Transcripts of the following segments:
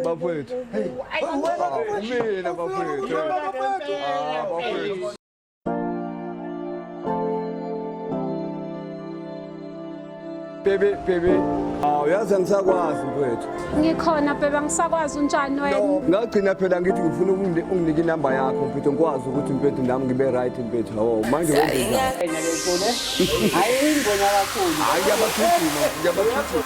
bafowethu mina bafowethu bafowethu Baby, baby. Aw, yazi angisakwazi mfowethu. Ngikhona bheba ngisakwazi unjani wena? Ngagcina phela ngithi ngifuna ukungi- unginike inamba yakho mfethu ngikwazi ukuthi mfethu nami ngibe right mfethu. Hawu, manje wenzenjani? Hayi ingona kakhulu. Hayi ngiyabathuthuka, ngiyabathuthuka.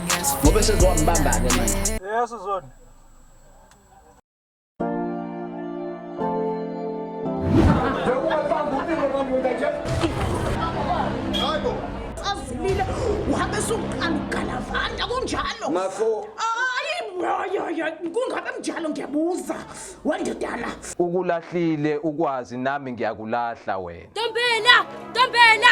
ngoba esezowambamba-ke manje yeso zona azilile uhambe suqala ugalavanda kunjalo mafo kungabe mnjalo ngiyabuza wendodana ukulahlile ukwazi nami ngiyakulahla wena ntombela ntombela